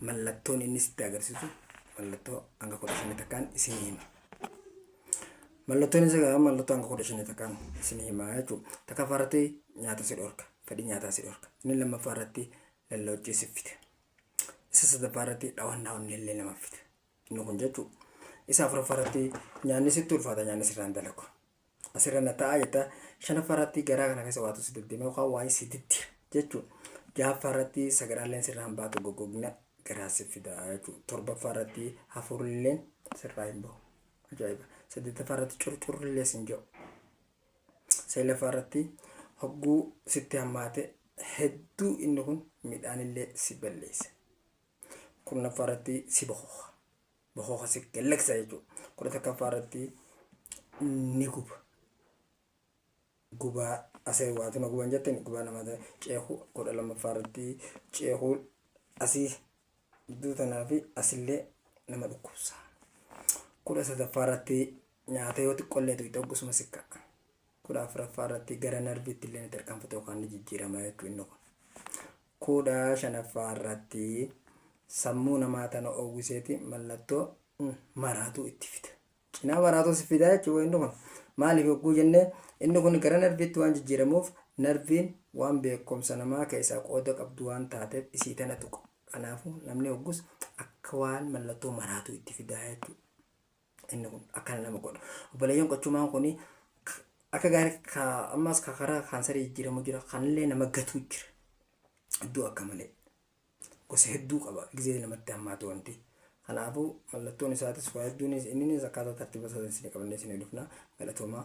mallattoon inni sitti agarsiisu mallattoo hanga kudha shanii takkaan isin hima. Mallattoon isa gahaa mallattoo hanga kudha shanii takkaan isin hima jechuudha. Takkaffaa irratti nyaata si dhorka. Fedhii nyaataa si dhorka. Inni lammaffaa irratti lalloochii si fida. Isa sadaffaa irratti dhawannaa onnee illee nama fida. Inni kun jechuudha. Isa afuraffaa irratti nyaanni sitti ulfaata nyaanni sirraan dalagu. asirra na ta'a jetta shanaffaa irratti garaa kana keessa waatu si deddeema yookaan waa'ee si diddira jechuudha. Ja'affaa irratti sagaraalleen sirraa hin baatu goggogina garaa si fida jechuudha. Torbaffaa irratti hafuurilleen sirraa hin bahu. Ajaa'iba. Saddeettaffaa irratti curcurrillee sin ja'u. Seelaffaa irratti hogguu sitti hammaate hedduu inni kun midhaanillee si balleessa. Kurnaffaa irratti si bahuha. bohoka si gallaksa jechuudha. Kudha takkaffaa irratti ni guba. Gubaa asee waatu na guban jettani gubaa namaa ta'e ceekuu kudha lammaffaa irratti ceekuu asii gidduu tanaa fi asillee nama dhukkubsa. Kudha sadaffaa irratti nyaata yoo xiqqollee tuqxee oggusuma sikka. 14ffaa irratti gara narviitti illee ni tarkaanfata yookaan ni jijjiirama jechuudha inni kun. 15ffaa irratti sammuu namaa tana oowwiseeti mallattoo maraatuu itti fida. Cinaa maraatuu si fida jechuudha inni kun. Maaliif yogguu jennee inni kun gara narviitti waan jijjiiramuuf narviin waan beekumsa namaa keessaa qooda qabdu waan taateef isii tana tuqa. Kanaafuu namni hoggus akka waan mallattoo maraatuu itti fidaa jechuudha. inni kun akkana nama godha obboleeyyan qochumaan kun akka gaarii ka ammas ka karaa kaansarii jijjiiramu jira kanillee nama gatuu jira iddoo akka malee gosa hedduu qaba gizee namatti hammaatu wanti kanaafuu mallattoon isaatis waa hedduunis inninis akkaataa tartiiba isaatiin isin qabannee isin dhufna galatoomaa